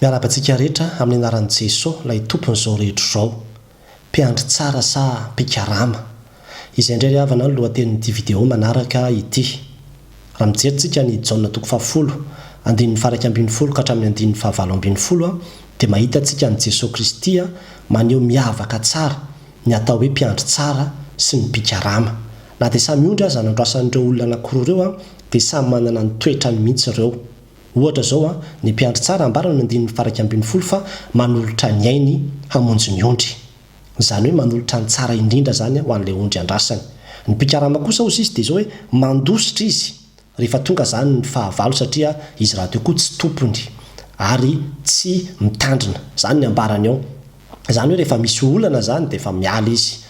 Miarahaba antsika rehetra amin'ny anaran'i Jesoa ilay Tompon'izao rehetra izao. Mpiandry tsara sa mpikarama? Izay indray ry havana no lohatenin'ity video manaraka ity. Raha mijery tsika an'i Jaona toko fahafolo, andininy faha iraika ambin'ny folo ka hatramin'ny andininy faha valo ambin'ny folo dia mahita tsika an'i Jesoa Kristy maneho miavaka tsara ny atao hoe mpiandry tsara sy ny mpikarama. Na dia samy ondry aza nandroasan'ireo olona anakiroa ireo dia samy manana ny toetrany mihitsy ireo. Ohatra izao, ny mpiandry tsara ambara ny andininy faha iraika ambin'ny folo fa manolotra ny ainy hamonjy ny ondry. Izany hoe manolotra ny tsara indrindra izany ho an'ilay ondry andrasany. Ny mpikarama kosa hozy izy dia izao hoe mandositra izy rehefa tonga izany ny fahavalo satria izy rahateo koa tsy tompony ary tsy mitandrina. Izany ny ambarany ao. Izany hoe rehefa misy olana izany dia efa miala izy.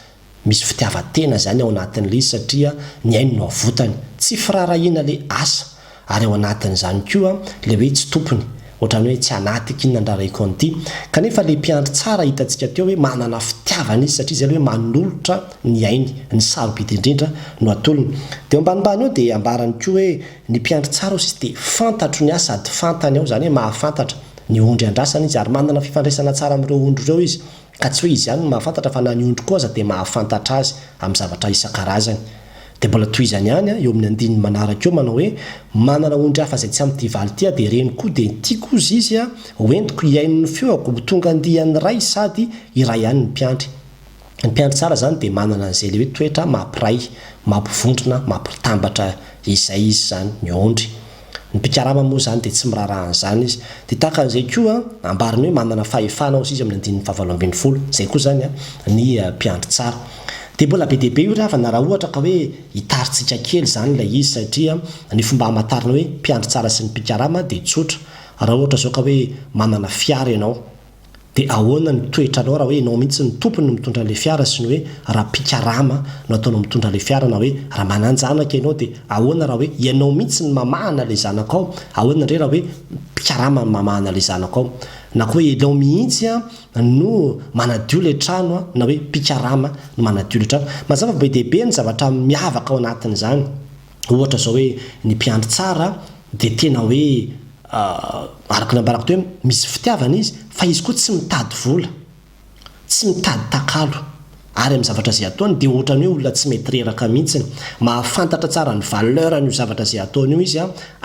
Misy fitiavan-tena izany ao anatin'ilay izy satria ny ainy no avotany. Tsy firaharahiana ilay asa ary ao anatin'izany koa ilay hoe tsy tompony, ohatran'ny hoe tsy anatik' inona niraharahiako an'ity. Kanefa ilay mpiandry tsara hitantsika teo hoe manana fitiavana izy satria izay ilay hoe manolotra ny ainy. Ny sarobidy indrindra no atolony. Dia eo ambanimbany eo dia ambarany koa hoe ny mpiandry tsara hozy dia fantatro ny ahy sady fantany aho, izany hoe mahafantatra, ny ondry andrasana izy ary manana fifandraisana tsara amin'ireo ondry ireo izy. ka tsy hoe izy ihany no mahafantatra fa na ny ondry koa aza dia mahafantatra azy amin'ny zavatra isan-karazany. Dia mbola tohizany ihany eo amin'ny andininy manaraka eo manao hoe, Manana ondry hafa izay tsy amin'ny tia valin-tia dia ireny koa dia tiako hozy izy a, ho entiko hihaino ny feoko, ho tonga andiany ray sady iray ihany ny mpiandry. Ny mpiandry tsara izany dia manana an'izay ilay hoe toetra mampiray, mampivondrona, mampitambatra izay izy izany ny ondry. Ny mpikarama moa izany dia tsy miraharaha an'izany izy. Dia tahaka an'izay koa, ambariny hoe manana fahefana hozy izy amin'ny andininy fahavalo ambin'ny folo, izay koa izany ny mpiandry tsara. Dia mbola be dia be io ry havana raha ohatra ka hoe hitarintsika kely izany ilay izy satria ny fomba hamantarana hoe mpiandry tsara sy ny mpikarama dia tsotra. Raha ohatra izao ka hoe manana fiara ianao. Dia ahoana ny toetranao raha hoe ianao mihitsy no tompony no mitondra an'ilay fiara sy ny hoe raha mpikarama no ataonao mitondra ilay fiara na hoe raha manan-janaka ianao dia ahoana raha hoe ianao mihitsy no mamahana ilay zanakao ahoana indray raha hoe mpikarama no mamahana ilay zanakao na koa hoe ianao mihitsy no manadio ilay trano na hoe mpikarama no manadio ilay trano. Mazava fa be dia be ny zavatra miavaka ao anatin'izany. Ohatra zao hoe ny mpiandry tsara dia tena hoe araka ny nambarako teo misy fitiavana izy fa izy koa tsy mitady vola, tsy mitady takalo ary amin'ny zavatra izay ataony dia ohatran'ny hoe olona tsy mety reraka mihitsy. Mahafantatra tsara ny valeur an'io zavatra izay ataony io izy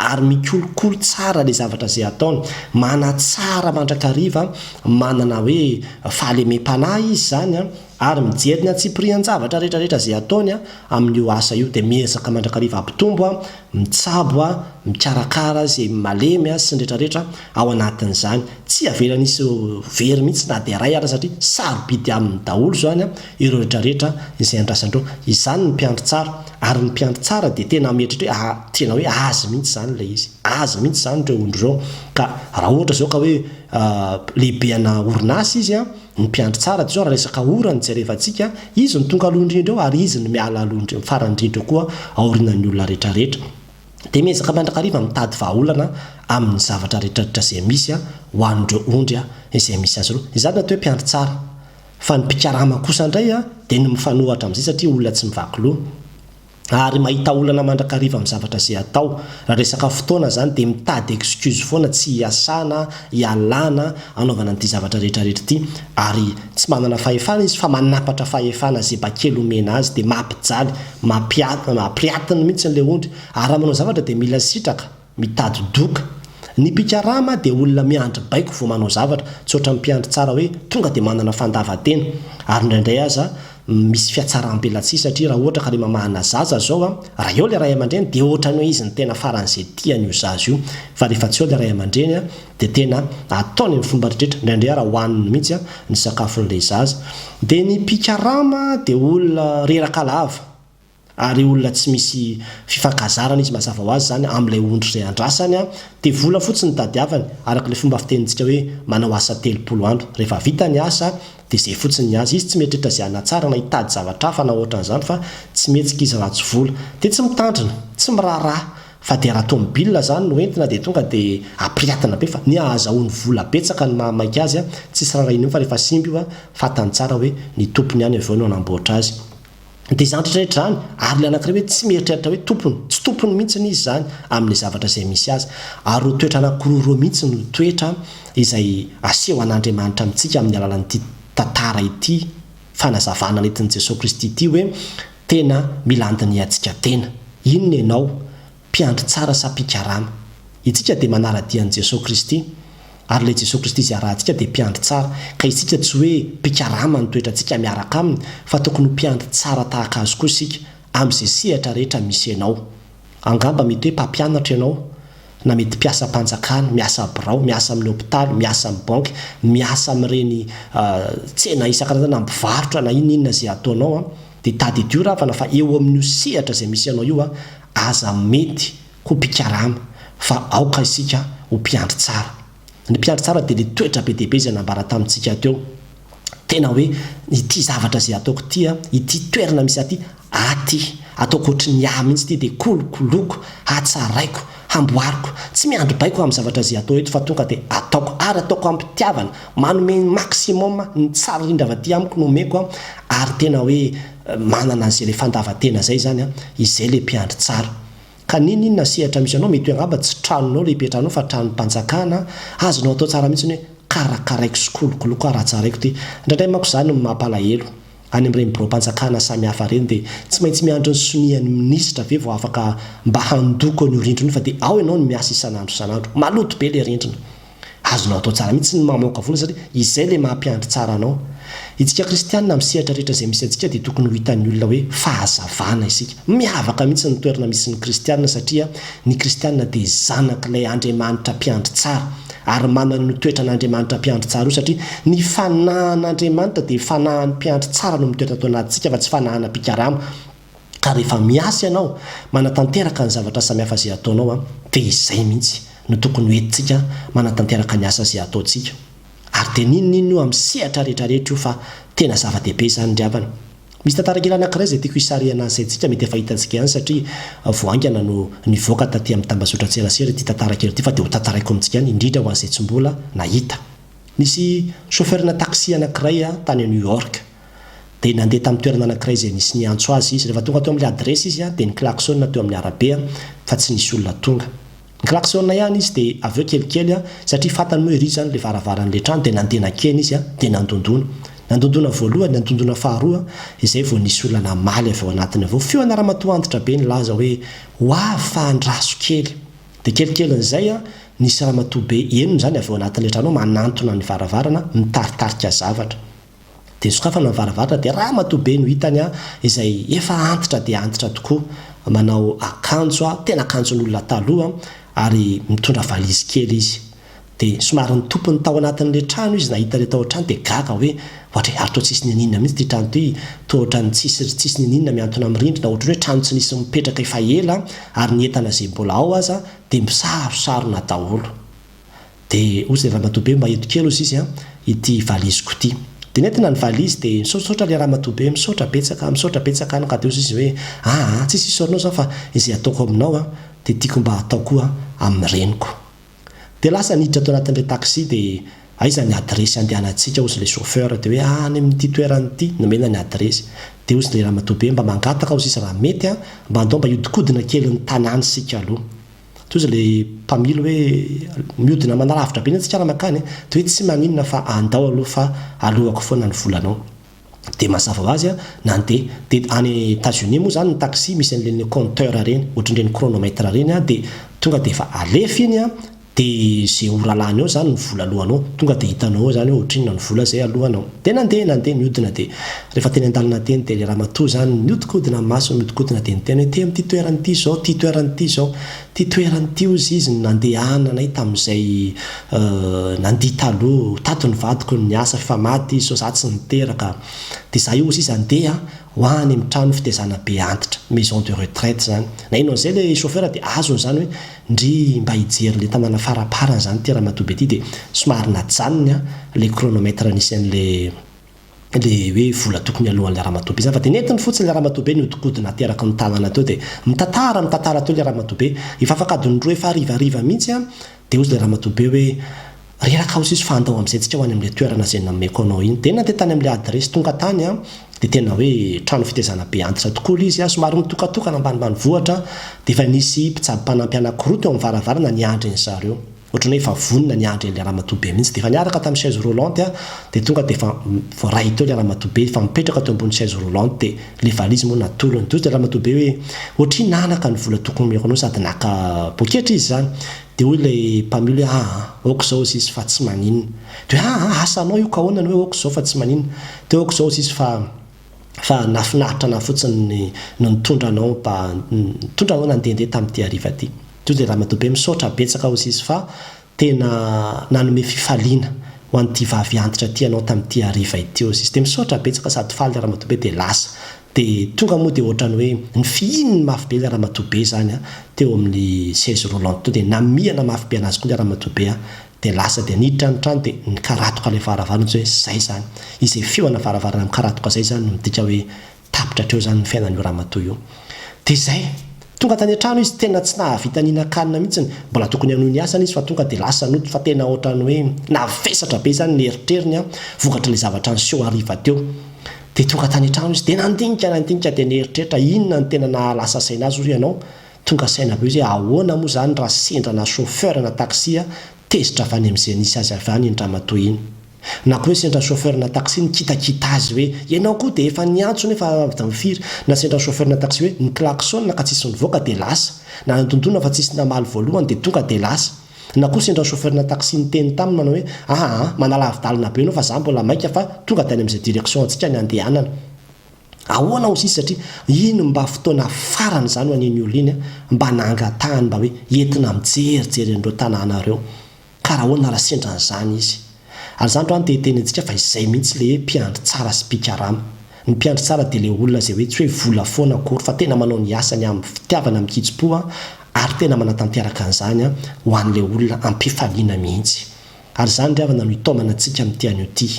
ary mikolokolo tsara ilay zavatra izay ataony. Manatsara mandrakariva, manana hoe fahalemem-panahy izy izany. Ary mijery ny antsipirihan-javatra rehetrarehetra izay ataony amin' io asa io, dia miezaka mandrakariva hampitombo, mitsabo, mikarakara izay malemy sy ny rehetrarehetra ao anatin' izany. Tsy avelany hisy very mihitsy na dia iray aza satria sarobidy aminy daholo izany ireo rehetrarehetra izay andrasany ireo. Izany ny mpiandry tsara. Ary ny mpiandry tsara dia tena mieritreritra hoe ah, tena hoe azy mihitsy izany ilay izy. Azy mihitsy izany ireo ondry ireo. Ka raha ohatra izao ka hoe lehibe ana orinasa izy, Ny mpiandry tsara dia izao raha resaka ora no jerevantsika, izy no tonga aloha indrindra eo ary izy no miala aloha indrindra, farany indrindra eo koa aorianan'ny olona rehetra rehetra. Dia miezaka mandrakariva mitady vahaolana amin'ny zavatra rehetra rehetra izay misy ho an'ireo ondry izay misy azy ireo. Izany no atao hoe mpiandry tsara. Fa ny mpikarama kosa indray dia ny mifanohatra amin'izay satria olona tsy mivaky loha. ary mahita olana mandrakariva amin'ny zavatra izay atao, raha resaka fotoana izany dia mitady excuse foana tsy hiasana, hialana, hanaovana an'ity zavatra rehetrarehetra ity ary tsy manana fahefana izy fa manampatra fahefana zeba kely omena azy dia mampijaly, mampiatiny mihitsy ilay ondry, ary raha manao zavatra dia mila sitraka. Mitady doka. Ny mpikarama dia olona miandry baiko vao manao zavatra, tsy ohatran'ny mpiandry tsara hoe tonga dia manana fandavan-tena. Ary indraindray aza misy fiatsarambelatsihy satria raha ohatra ka le mamahana zaza zao a, raha eo le ray aman-dreny dia ohatran'ny hoe izy no tena faran'izay tiany io zaza io. Fa rehefa tsy eo le ray aman-dreny a, dia tena ataony amin'ny fomba rehetra, indraindray ara hohaniny mihitsy a, ny sakafon'ilay zaza. Dia ny mpikarama dia olona reraka lava. ary olona tsy misy fifankazarana izy mazava ho azy zany amin'ilay ondry izay andrasany an! dia vola fotsiny no tadiavany araka ilay fomba fitenintsika hoe manao asa telopolo andro, rehefa vita ny asa dia izay fotsiny ny azy, izy tsy mieritreritra izay hanatsara na hitady zavatra hafa na ohatran'izany fa tsy mihetsika izy raha tsy vola, dia tsy mitandrina, tsy miraharaha, fa dia raha tomobilina zany no entina dia tonga dia apiriatina be fa ny ahazahoany vola betsaka no maha maika azy an! tsisy raharahiana io fa rehefa simba io an! fantany tsara hoe ny tompony ihany avy eo no hanamboatra azy. Dia izany rehetra rehetra izany, ary ilay anankiray hoe tsy mieritreritra hoe tompony, tsy tompony mihitsy izy izany amin'ilay zavatra izay misy azy. Ary ireo toetra anankiroa ireo mihitsy no toetra izay aseho an'Andriamanitra amintsika amin'ny alalan'ity tantara ity, fanazavana nentin'i Jesoa Kristy ity hoe tena mila handinihantsika tena. Inona ianao? mpiandry tsara sa mpikarama? Itsika dia manara-dia an'i Jesoa Kristy, ary ilay Jesoa Kristy izay arahantsika dia mpiandry tsara, ka isika tsy hoe mpikarama ny toetrantsika miaraka Aminy, fa tokony ho mpiandry tsara tahaka Azy koa isika, amin'izay sehatra rehetra misy ianao. Angamba mety hoe mpampianatra ianao, na mety mpiasam-panjakana, miasa birao, miasa amin'ny hopitaly, miasa amin'ny banky, miasa amin'ireny tsena isan-karazany, na mpivarotra, na inona inona izay ataonao, dia tadidio ravana fa eo amin'io sehatra izay misy anao io, Aza mety ho mpikarama fa aoka isika ho mpiandry tsara. Ny mpiandry tsara dia ilay toetra be dia be izay nambara tamintsika teo. Tena hoe ity zavatra izay ataoko ity, ity toerana misy ahy ity, aty, ataoko ohatry ny ahy mihitsy ity dia kolokoloiko, hatsaraiko, hamboariko, tsy miandry baiko amin'ny zavatra izay atao eto fa tonga dia ataoko ary ataoko am-pitiavana, manome ny maximum, ny tsara indrindra avy aty amiko no omeko ary tena hoe Manana an'izay le fandavantena zay zany an, izay le mpiandry tsara. Ka ninoninona sehatra misy anao, mety hoe angamba tsy tranonao le ipetrahanao fa tranom-panjakana an, azonao atao tsara mihitsy ny hoe karakaraiko sy kolokoloko aho raha tsaraiko ty. Indraindray manko zany no mampalahelo, any amin'ireny biraom-panjakana samihafa ireny dia tsy maintsy miandry ny sonian'ny minisitra ve vao afaka mba handoko an'io rindrina io fa dia ao ianao no miasa isan'andro isan'andro. Maloto be le rindrina. Azonao atao tsara mihitsy ny mamoaka vola satria izay ilay maha mpiandry tsara anao. Isika kristianina amin'ny sehatra rehetra izay misy antsika dia tokony ho hitan'ny olona hoe fahazavana isika. Miavaka mihitsy ny toerana misy ny kristianina satria ny kristianina dia zanak'ilay Andriamanitra mpiandry tsara ary manana io toetran'Andriamanitra mpiandry tsara io satria ny fanahin'Andriamanitra dia fanahin'ny mpiandry tsara no mitoetra ato anatintsika fa tsy fanahinà mpikarama. Ka rehefa miasa ianao, manatanteraka ny zavatra samihafa izay ataonao an, dia izay mihitsy no tokony ho entintsika manatanteraka ny asa izay ataontsika. Ary dia n'inon'inona io amin'ny sehatra rehetrarehetra io fa tena zava-dehibe izany ry havana. Misy tantara kely anankiray izay tiako hisarihana ny saintsika, mety efa hitantsika ihany satria vao haingana no nivoaka taty amin'ny tambazotran-tserasera ity tantara kely ity fa dia hotantaraiko amintsika ihany indrindra ho an'izay tsy mbola nahita. Nisy chauffeur-na taxi anankiray tany New York. Dia nandeha tamin'ny toerana anankiray izay nisy niantso azy izy. Rehefa tonga teo amin'ilay adiresy izy dia niklaxona teo amin'ny arabe fa tsy nisy olona tonga. Niklaxona ihany izy dia avy eo kelikely satria fantany moa ery izany ilay varavaran'ilay trano dia nandeha nankeny izy dia nandondona. Nandondona voalohany, nandondona faharoa izay vao nisy olona namaly avy ao anatiny avy eo. Feona ramatoa antitra be nilaza hoe, Ho avy fa andraso kely. Dia kelikelin'izay nisy ramatoa be enina izany avy ao anatin'ilay trano ao manantona ny varavarana mitaritarika zavatra. Dia sokafana ny varavarana dia ramatoa be no hitany an! izay efa antitra dia antitra tokoa, manao akanjo an! tena akanjon'olona taloha an! ary mitondra valizy kely izy. Dia somary nitopy ny tao anatin'ilay trano izy nahita ilay tao an-trano dia gaga hoe, ohatry ary toa tsisy niniana mihitsy ity trano ity, toa ohatran'ny tsisy ry tsisy niniana mihantona amin'ny rindrina, ohatran'ny hoe trano tsy nisy mipetraka efa ela ary ny entana izay mbola ao aza dia misarosarona daholo. De ozy le ramatoa be mba eto kely ozy izy an, ity valiziko ity. De nentina ny valizy de misaotrasaotra le ramatoa be, misaotra betsaka, misaotra betsaka an, ka de ozy izy hoe, ah ah, tsisy isaorana zao fa izay ataoko aminao an, de tiako mba hatao koa amin'ny reniko. De lasa niditra tao anatin'ilay taxi de aiza ny adiresy handehanantsika ozy le chauffeur, de hoe ah any amin'ity toerana ity, nomena ny adiresy. De ozy le ramatoa be mba mangataka ozy izy raha mety an, mba andao mba hiodikodina kely ny tanàna isika aloha. Toy izay ilay mpamily hoe mihodina manalavitra be ny antsika raha mankany e! Dia hoe tsy maninona fa andao aloha fa aloako foana ny volanao. Dia mazava ho azy, nandeha. Dia any Etazonia moa izany ny taxi misy an'ireny compteur ireny, ohatran'ireny chronomètre ireny, dia tonga dia efa alefa iny an, dia izay ho ralany eo izany ny vola aloanao, tonga dia hitanao eo izany hoe ohatrinona ny vola izay aloanao. Dia nandeha, nandeha, nihodina dia. Rehefa teny an-dalana teny dia ilay ramatoa izany miodikodina ny masony miodikodina dia niteny hoe, Ity amin'ity toerana ity izao, ity toerana ity izao. Ity toerana ity hozy izy no nandehananay tamin'izay nandia taloha. Tato ny vadiko no niasa fa maty izy sao za tsy niteraka. Dia za io hozy izy handeha ho any amin'ny trano fitaizana be antitra, maison de retraite, izany. Na inona na izay ilay chauffeur dia azony izany hoe, ndry mba hijery ilay tanàna faraparany izany ity ramatoa be ity dia somary najanony ilay chronomètre nisy an'ilay le hoe vola tokony aloan'ilay ramatoa be zany fa de nentiny fotsiny ilay ramatoa be niodikodina ateraky ny tanana teo de mitantara mitantara teo ilay ramatoa be efa afak'adiny roa efa harivariva mihitsy an de hozy ilay ramatoa be hoe reraka aho siso fa andao amizay tsika ho any amle toerana zay nomeko anao iny de nandeha tany amle adresse tonga tany an de tena hoe trano fitezana be antitra tokoa le izy an somary mitokatokana ambanimbanivohitra de efa nisy mpitsabo mpanampy anakiroa teo am varavarana niandry ny zareo Ohatran'ny hoe efa vonona ny handre an'ilay ramatoa be mihitsy. Dia efa niaraka tamin'ny chaise roulante an, dia tonga dia efa voaray teo ilay ramatoa be, efa mipetraka teo ambony chaise roulante, dia ilay valizy moa natolony. Dia hoy ilay ramatoa be hoe, ohatrinona naka ny vola tokony omeko anao sady naka poketra izy izany? Dia hoy ilay mpamily hoe, aa, aoka izao hozy izy fa tsy maninona. Dia hoe, aa, asa anao io ka ahoana ny hoe aoka izao fa tsy maninona? Dia hoe, aoka izao hozy izy fa. fa nafinaritra anah fotsiny ny no nitondra anao mba nitondra anao nandehandeha tamty hariva ty toy izay ramatoa be misaotra betsaka hozy izy fa tena nanome fifaliana ho anty vavy antitra ty anao tamty hariva ity hozy izy de misaotra betsaka sady faly le ramatoa be de lasa de tonga moa de otrany hoe nifihininy mafy be le ramatoa be zany a teo aminy chaise roulante teo de namihana mafy be anazy koa le ramatoa be a dia lasa dia niditra ny trano dia nikaratoka ilay varavarana ohatry hoe zay zany izay feo ana varavarana mikaratoka zay zany no midika hoe tapitra hatreo zany ny fiainan'io ramatoa io dia zay tonga tany an-trano izy tena tsy nahavita nihinan-kanina mihitsiny mbola tokony hanohy ny asany izy fa tonga dia lasa nody fa tena ohatran'ny hoe navesatra be zany ny eritreriny an vokatr'ilay zavatra niseho hariva teo dia tonga tany an-trano izy dia nandinika nandinika dia nieritreritra inona no tena nahalasa saina azy hoy ianao Tonga saina be izy hoe ahoana moa izany raha sendra na chauffeur na taxi tezitra avy any amin'izay nisy azy avy any iny ramatoa iny. Na koa hoe sendra chauffeur na taxi nikitakita azy hoe ianao koa dia efa niantso nefa avy tamin'ny firy. Na sendra chauffeur na taxi hoe niklaxona ka tsisy nivoaka dia lasa. Na nidondona fa tsisy namaly voalohany dia tonga dia lasa. Na koa sendra chauffeur na taxi niteny taminy manao hoe aa manalavi-dalana be ianao fa izaho mbola maika fa tonga dia any amin'izay direction antsika ny handehanana. Ahoana hoy sisa satria iny mba fotoana farany izany ho an'iny olona iny mba nangatahany mba hoe entina mijerijery an'ireo tanàna ireo ka raha ahoana raha sendra an'izany izy. Ary izany raha ny te hiteny antsika fa izay mihitsy le hoe mpiandry tsara sy mpikarama. Ny mpiandry tsara dia le olona izay hoe tsy hoe vola foana akory fa tena manao ny asany amin'ny fitiavana amin-kitsim-po ary tena manatanteraka an'izany ho an'ilay olona am-pifaliana mihitsy. Ary izany ry havana no hitaomana antsika amin'ity anio ity.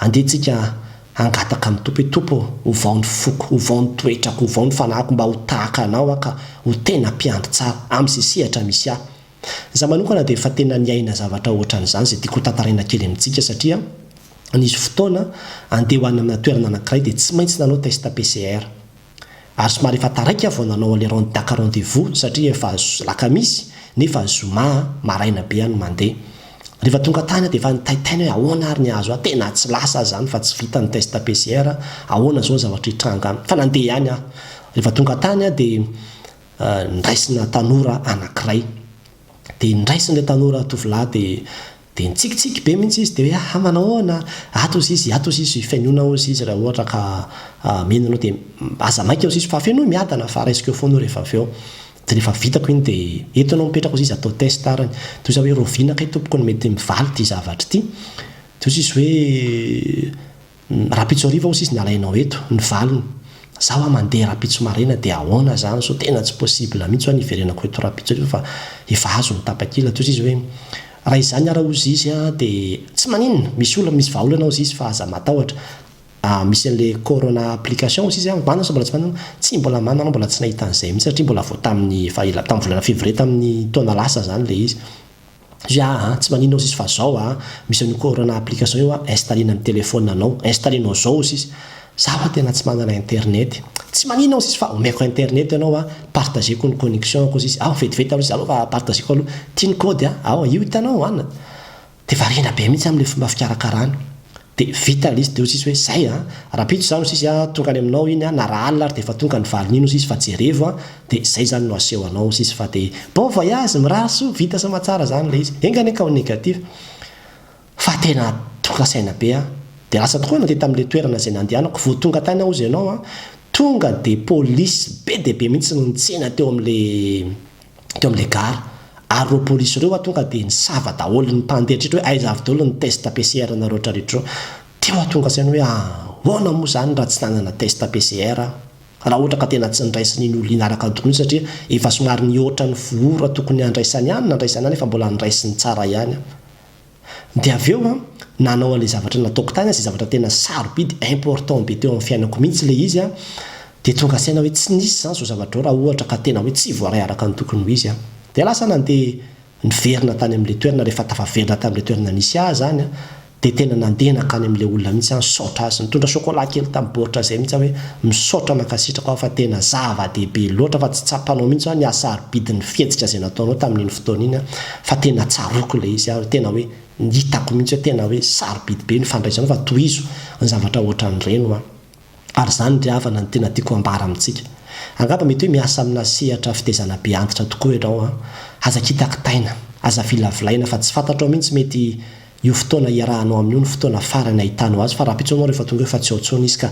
Andeha tsika hangataka amin'ny Tompo hoe, Tompo ô, ovao ny foko, ovao ny toetrako, ovao ny fanahiko mba ho tahaka Anao aho ka ho tena mpiandry tsara, amin'izay sehatra misy ahy. Izaho manokana dia efa tena niaina zavatra ohatran'izany izay tiako hotantaraina kely amintsika satria nisy fotoana andeha ho any amina toerana anankiray dia tsy maintsy nanao test PCR. ary somary efa taraiky aho vao nanao an'le rond daka rendez-vous satria efa alakamisy nefa zoma maraina be aho no mandeha. Rehefa tonga tany aho dia efa nitaitaina hoe ahoana ary ny hahazo ahy, tena tsy lasa aza zany fa tsy vita ny test PCR, ahoana zao ny zavatra hitranga any. Fa nandeha ihany aho. Rehefa tonga tany aho dia niraisina tanora anankiray. Dia niraisin'ilay tanora tovolahy dia Dia nitsikitsiky be mihitsy izy dia hoe aha manao ahoana, ato hozy izy, ato hozy izy, fenoina hozy izy raha ohatra ka mino anao dia aza maika hozy izy fa fenoy miadana fa raisiko eo foana io rehefa avy eo, dia rehefa vitako iny dia eto ianao mipetraka hozy izy atao test ary, dia hoza hoe roviana kay tompoko no mety mivaly ity zavatra ity, dia hozy izy hoe Rahampitso hariva hoy sisa ny alainao eto, ny valiny. Za hoa mandeha rahampitso maraina dia ahoana zany sao tena tsy possible mihitsy hoa ny hiverenako eto rahampitso hariva fa efa azo ny tapakila. Toy izy hoe, raha izany ara hoy zizy an dia tsy maninona, misy olona misy vahaolana ao zizy fa aza matahotra. Ah misy an'le corona application hoy zizy an, manana sa mbola tsy manana? Tsia mbola manana anao mbola tsy nahita an'izay mihitsy satria mbola vao tamin'ny efa ela, tamin'ny volana février tamin'ny taona lasa zany le izy. Fy aah a, tsy maninona ozizy fa zao a, misy an'io corona application io a, installena ny telephone anao, installenao zao ozizy, za fa tena tsy manana internet, tsy maninona ozizy fa omeko internet ianao a, partageko ny connexion-ko ozizy, ao vetivety aloha izy aleo fa partageko aloha, ty ny code a, ao io hitanao an, dia variana be mihitsy amin'ilay fomba fikarakarany. De vita le izy teo sisy hoe zay a! Rapitso zany no sisy a! Tonga any aminao iny a! Na raha alina ary de efa tonga ny valiny iny ho sisy fa jerevo a! De zay zany no aseho anao ho sisy fa de bon voyage! Mirary soa! Vita sy mahatsara zany le izy! Enga anie ka ho negatif! Fa tena tonga saina be aho! De lasa tokoa nandeha tamle toerana zay nandehanako! Vao tonga tany aho hozy ianao a! Tonga de police be dia be mihitsy no nitsena teo amle teo amin'ilay gara, ary ireo polisy ireo ho'a tonga dia nisava daholo, ny mpandeha hatreto hoe aiza avy daholo ny test PCR anareo hatreto ireo, dia mahatonga an-tsaina hoe ahoana moa izany raha tsy nanana test PCR aho, raha ohatra ka tena tsy niraisin' iny olona iny araka ny tokony iny satria efa somary nihoatra ny foura tokony handraisany ahy no nandraisany ahy nefa mbola niraisiny tsara ihany aho. Dia avy eo an, nanao an'ilay zavatra nataoko tany aho, izay zavatra tena sarobidy, important be teo amin'ny fiainako mihitsy ilay izy an, dia tonga saina hoe tsy nisy izany izao zavatra izao raha ohatra ka tena hoe tsy voaray araka ny tokony ho izy an. Dia lasa nandeha niverina tany amin'ilay toerana rehefa tafaverina tamin'ilay toerana nisy ahy izany an, dia tena nandeha nankany amin'ilay olona mihitsy aho nisaotra azy. Nitondra chocolat kely tamin'ny baoritra izay mihitsy aho hoe misaotra mankasitraka ho'a fa tena zava-dehibe loatra fa tsy tsapanao mihitsy ho'a ny hasarobidin'ny fihetsika izay nataonao tamin'iny fotoana iny an, fa tena tsaroako ilay izy ary tena hoe hitako mihitsy hoe tena hoe sarobidy be ny fandraisana fa tohizo ny zavatra ohatran'ireny hoa ary izany ry havana no tena tiako ambara amintsika angamba mety hoe miasa amina sehatra fitezana be antitra tokoa ianao an aza kitakitaina aza vilavolaina fa tsy fantatrao mihitsy mety io fotoana hiarahanao amin'io no fotoana farany ahitanao azy fa rahampitso ianao rehefa tonga eo fa tsy ao intsony izy ka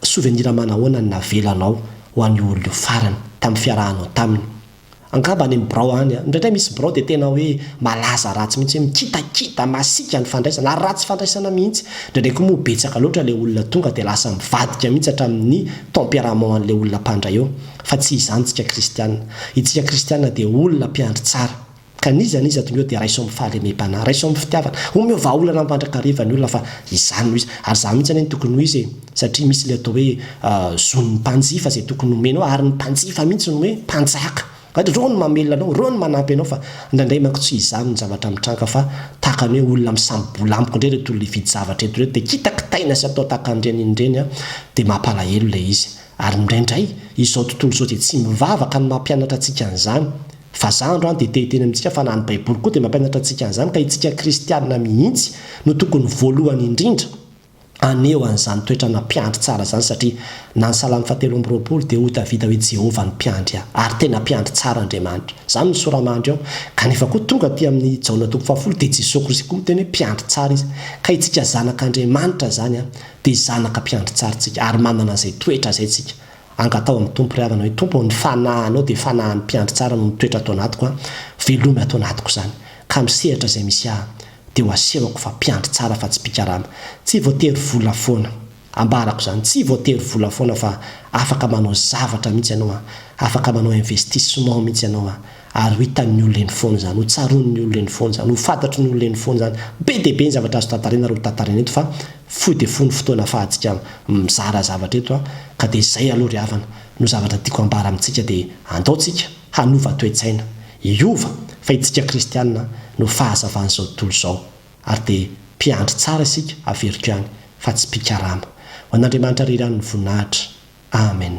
souvenir manahoana ny navelanao ho an'io olona io farany tamin'ny fiarahanao taminy Angamba any amin'ny birao any. Indraindray misy birao dia tena hoe malaza ratsy mihitsy hoe mikitakita, masiaka ny fandraisana ary ratsy fandraisana mihitsy. Indraindray koa moa betsaka loatra ilay olona tonga dia lasa mivadika mihitsy hatramin'ny tempérament an'ilay olona mpandray eo. Fa tsy izany isika kristiana. Isika kristiana dia olona mpiandry tsara. Ka n'iza n'iza ato mihoa dia raiso amin'ny fahalemem-panahy, raiso amin'ny fitiavana. Omeo vahaolana mandrakariva ny olona fa izany no izy. Ary izany mihitsy anie no tokony ho izy e! Satria misy ilay atao hoe zon'ny mpanjifa izay tokony homenao, ary ny mpanjifa mihitsy no hoe mpanjaka. Ireo no mamelona anao, ireo no manampy anao, fa indraindray manko tsy izany no zavatra mitranga fa tahaka ny hoe olona misambobola amiko indray ireto olona hividy zavatra eto ireto dia kitakitaina sy atao tahaka an'ireny in'ireny an! dia mampalahelo ilay izy. Ary indraindray izao tontolo izao izay tsy mivavaka no mampianatra antsika an'izany. Fa za androany dia te-hiteny amintsika fa na ny baiboly koa dia mampianatra antsika an'izany ka itsika kristianina mihitsy no tokony voalohany indrindra haneho an'izany toetrana mpiandry tsara izany satria na ny salamo fahatelo amby roapolo dia hotavita hoe Jehovah no mpiandry ahy ary tena mpiandry tsara Andriamanitra izany ny soramandry ao kanefa koa tonga aty amin'ny Jaona toko fahafolo dia Jesoa Kristy koa miteny hoe mpiandry tsara izy ka itsika zanak'Andriamanitra izany dia zanaka mpiandry tsara tsika ary manana izay toetra izay tsika Angataho ny Tompo ry havana hoe Tompo ô ny fanahanao dia fanahan'ny mpiandry tsara no mitoetra ato anatiko an, veloma ato anatiko izany, ka amin'ny sehatra izay misy ahy dia ho asehoko fa mpiandry tsara fa tsy mpikarama, tsy voatery vola foana, ambarako izany, tsy voatery vola foana fa afaka manao zavatra mihitsy ianao an, afaka manao investissement mihitsy ianao an, ary ho hitan'ny olona eny foana izany, ho tsaroan'ny olona eny foana izany, ho fantatry ny olona eny foana izany, be dia be ny zavatra azo tantarina ary ho tantarina eto fa Fohy dia fohy ny fotoana afahantsika mizara zavatra eto an! Ka dia izay aloha ry havana no zavatra tiako ambara amintsika dia andao tsika hanova toe-tsaina, hiova fa itsika kristianina no fahazavan'izao tontolo izao ary dia mpiandry tsara isika averiko ihany fa tsy mpikarama. Ho an'Andriamanitra re ihany ny voninahitra. Amen.